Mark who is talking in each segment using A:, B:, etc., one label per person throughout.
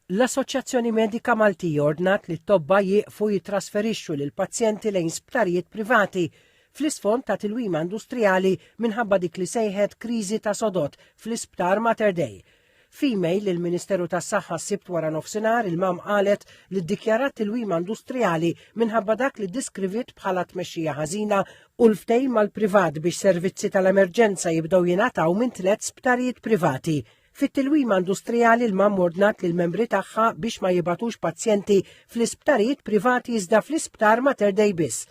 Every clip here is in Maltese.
A: L-Assoċjazzjoni Medika Maltija ordnat li t-tobba jieqfu jittrasferixxu lill-pazjenti lejn sptarijiet privati fl-isfond ta' tilwima industrijali minħabba dik li sejħet kriżi ta' sodod fl-Isptar Mater Dei. F'email lill-Ministeru tas-Saħħa s-Sibt waranofsinhar il-MAM qalet li ddikjarat tilwima industrijali minħabba dak li deskriviet bħala tmexxija ħażina u l-ftehim mal-privat biex servizzi tal-emerġenza jibdew jingħataw minn tliet sptarijiet privati Fit-tilwima industrijali l-MAM ordnat lill-membri tagħha biex ma jibgħatux pazjenti fl-isptarijiet privati iżda fl-isptar Mater Dei biss.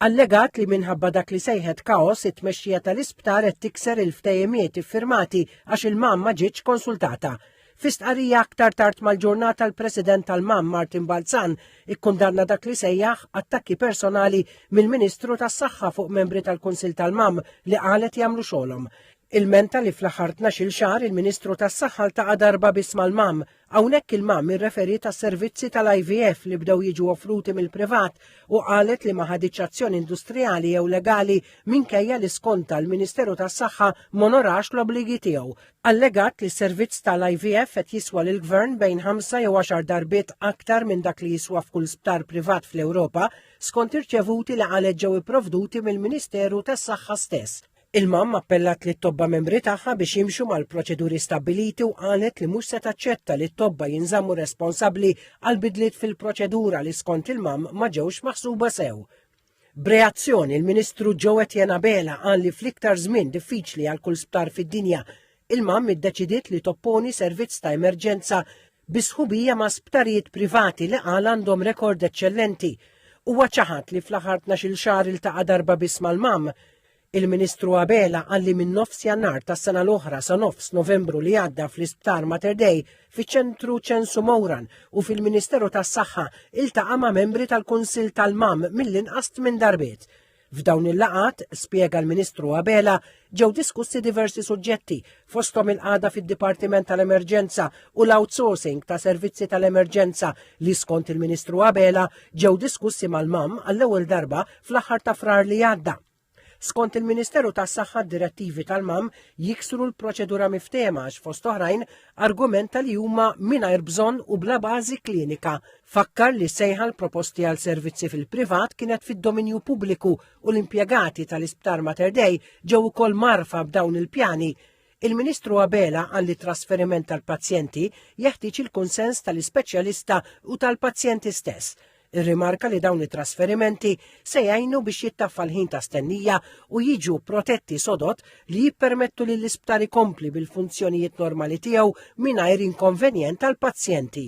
A: Allegat li minħabba dak li sejħet kaos it-tmexxija tal-isptar qed tikser il-ftehimiet iffirmati għax il-MAM ma ġietx konsultata. Fi stqarrija aktar tard mal-ġurnata l-President tal-MAM Martin Balzan ikkundanna dak li sejjaħ attakki personali mill-Ministru tas-Saħħa fuq membri tal-Kunsill tal-MAM li qalet jagħmlu xogħolhom. Ilmenta li fl-aħħar tnax-il xahar il-Ministru tas-Saħħa ltaqa' darba biss mal-MAM. Hawnhekk il-MAM irreferiet għas-servizzi tal-IVF li bdew jiġu offruti mill-privat u qalet li ma ħaditx azzjoni industrijali jew legali minkejja li skontha l-Ministeru tas-Saħħa m'onorax l-obbligi tiegħu. Allegat li s-servizz tal-IVF qed jiswa lill-Gvern bejn ħamsa jew għaxar darbiet aktar minn dak li jiswa f'kull sptar privat fl-Ewropa, skont irċevuti li qalet ġew ipprovduti mill-Ministeru tas-Saħħa stess. Il-MAM appellat lit-tobba membri tagħha biex jimxu mal-proċeduri stabbiliti u qalet li mhux se taċċetta li t-tobba jinżammu responsabbli għal bidliet fil-proċedura li skont il-MAM ma ġewx maħsuba sew. B'reazzjoni l-Ministru Joe Etienne Abela qal li fl-iktar żmien diffiċli għal kull sptar fid-dinja, il-MAM iddeċidiet li topponi servizz ta' emerġenza bi sħubija ma' sptarijiet privati li qal għandhom rekord eċċellenti. Huwa ċaħad li fl-aħħar tnax-il xahar iltaqa' darba biss mal-MAM. Il-Ministru Abela qal li minn nofs Jannar tas-sena l-oħra sa nofs Novembru li għadda fl-Isptar Mater Dei, fiċ-Ċentru Ċensu Mowran u fil-Ministeru tas-Saħħa iltaqa' ma' membri tal-Kunsill tal-MAM mill-inqas tmien darbiet. F'dawn il-laqat, spjega l-Ministru Abela, ġew diskussi diversi suġġetti, fosthom il-qagħda fid-Dipartiment tal-Emerġenza u l-outsourcing ta' servizzi tal-emerġenza li skont il-Ministru Abela ġew diskussi mal-MAM għall-ewwel darba fl-aħħar ta' Frar li għadda. Skont il-Ministeru tas-Saħħa d-direttivi tal-MAM jiksru l-proċedura miftehma għax fost oħrajn argumenta li huma mingħajr bżonn u bla bażi klinika Fakkar li sejħa l-proposti għal servizzi fil-privat kienet fid-dominju pubbliku u l-impjegati tal-Isptar Mater Dei ġew ukoll marfa b'dawn il-pjani Il-Ministru Abela qal li trasferiment tal-pazjenti jeħtieġ il-kunsens tal-ispeċjalista u tal-pazjenti stess. Irrimarka li dawn it-trasferimenti se jgħinu biex jittaffa l-ħin ta' stennija u jiġu protetti sodot li jippermettu li l-isptar ikompli bil-funzjonijiet normali tiegħu mingħajr inkonvenjent għall-pazjenti.